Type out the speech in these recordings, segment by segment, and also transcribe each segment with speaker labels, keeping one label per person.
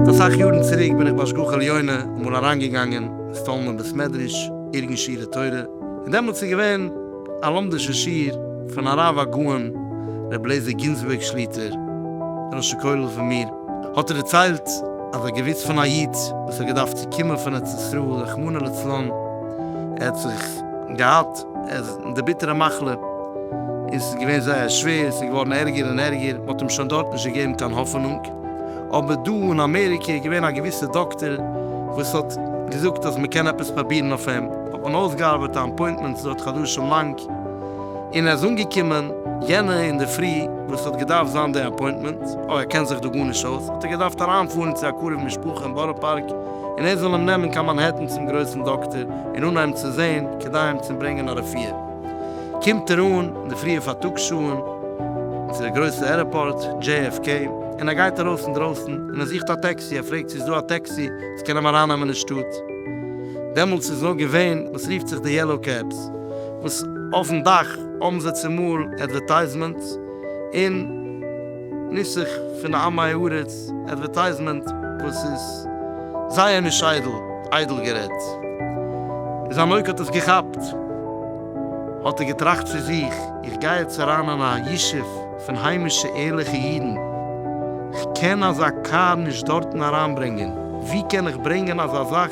Speaker 1: אסאך יארן צוריק בין איך בהשגחה עליונה אמאל אריינגעגאנגען אין סטאלנער בית מדרש, ארגון שיעורי תורה, און דעמאלטס איז געווען א לומדישער שיעור פון הרב הגאון רבי אליעזר גינזבורג שליטא, ראש הכולל פון מיר. האט ער דערציילט אז א געוויס פון א איד וואס האט געדארפט צו קומען פון ארץ ישראל רחמנא לצלן ער האט זיך געהאט די ביטערע מחלה און ס'איז געווען זייער שווער ס'איז געווארן ערגער און ערגער מ'האט אים שוין דארט נישט געגעבן קיין האפענונג אבער דא און אמעריקע איז געווען א געוויסע דאקטער וואס האט געזאגט אז מ'קען עפעס פראבירן אויף אים האט מען אויסגעארבעט א אפוינטמענט ס'דויערט חדשים לאנג. און ער איז אנגעקומען יענע אינדערפרי וואס ס'האט געדארפט זיין די אפוינטמענט, אוי ער קען זיך דא גארנישט אויס, האט ער געדארפט אריינפארן צו א קרוב משפחה אין בארא פארק און ער זאל אים נעמען קיין מאנהעטן צום גרויסן דאקטער און אנהייבן צו זעהן כדי אים צו ברענגען א רפואה. קומט ער אן אין די פריע פארטאגס שעהן צו די גרויסע ערעפארט, JFK, און ער גייט ארויס אינדרויסן און ער זוכט א טעקסי, ער פרעגט צו איז דא א טעקסי וואס קען אים ארייננעמען אין שטאט, דעמאלטס איז נאר געווען וואס רופט זיך די יעלאו קעבס, וואס אויפן דאך האבן זיי צומאל עדווערטייזמענטס, און נוסח פון א עמי הארץ עדווערטייזמענט וואס איז זייער נישט איידל, איידל גערעדט. ווי זיין אויג האט עס געכאפט האט ער געטראכט צו זיך, איך גיי יעצט אריין אין א ישוב, פון היימישע ערליכע אידן, כ'קען אזא קאר נישט דארטן אריינברענגען, ווי קען איך ברענגען אזא זאך,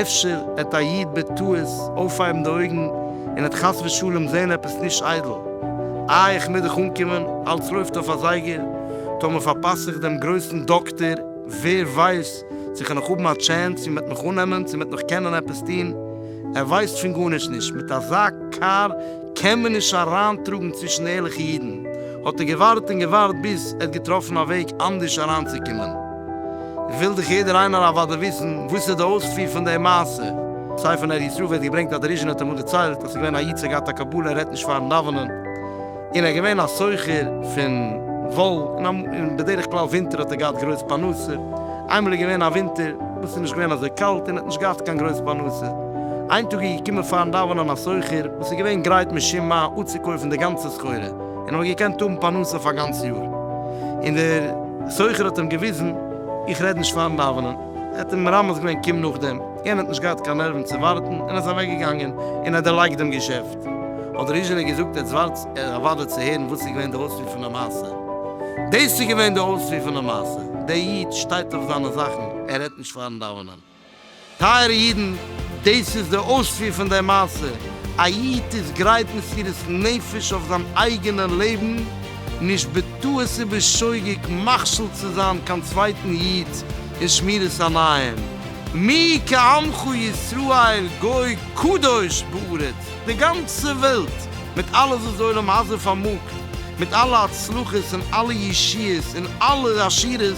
Speaker 1: אפשר העט א איד בטעות אויפהייבן די אויגן און העט חס ושלום זען עפעס נישט איידל, איי איך מוז דאך אנקומען, אלץ לויפט אויף א זייגער, טאמער פארפאס איך דעם גרויסן דאקטער, ווער ווייסט צו כ'וועל נאך האבן א טשענס, צו מ'עט מיך אננעמען, צו מ'עט נאך קענען עפעס טון, ער ווייסט פון גארנישט נישט, מיט אזא קאר. קען מען נישט אריינטראגן צווישן ערליכע אידן, האט ער געווארט און געווארט ביז ער האט געטראפן א וועג אנדערש אריינצוקומען. וויל דאך יעדער איינער אוודאי וויסן וואס איז די אויספיר פון די מעשה. ספר נר ישראל ווערט געברענגט אז דער ריז'ין האט אמאל דערציילט אז ער איז געווען א איד ס'האט געהאט א קבלה ער רעדט נישט פארן דאווענען, און ער איז געווען א סוחר פון וואל, און בדרך כלל ווינטער האט ער געהאט גרויס פרנסה, איינמאל איז געווען א ווינטער וואס איז נישט געווען אזוי קאלט און ער האט נישט געהאט קיין גרויס פרנסה, איין טאג איז געקומען פארן דאווענען א סוחר וואס איז געווען גרייט משום מה אפצוקויפן די גאנצע סחורה און האט געקענט האבן פרנסה אויף א גאנץ יאר, און דער סוחר האט אים געוויזן, איך רעד נישט פארן דאווענען, ער האט אים מרמז געווען קום נאכדעם, יענער האט נישט געהאט קיין נערוון צו ווארטן און איז אוועק געגאנגען און ער האט דערלייגט דעם געשעפט, האט ריזשינער געזאגט עטס ווארט ער אוודאי צו הערן וואס איז געווען די אויספיר פון די מעשה, דאס איז געווען די אויספיר פון די מעשה, דער איד שטייט אויף זיינע זאכן, ער רעדט נישט פארן דאווענען. טייערע אידן, דאס איז די אויספיר פון די מעשה, א איד איז גרייט מסירות נפש אויף זיין אייגענע לעבן, נישט בטעות ובשוגג מכשיל צו זיין קיין צווייטן איד אין שמירת עיניים, מי כעמך ישראל גוי קדוש בארץ, די גאנצע וועלט מיט אלעס וואס די עולם הזה פארמאגט, מיט אלע הצלחות און אלע ישועות און אלע עשירות,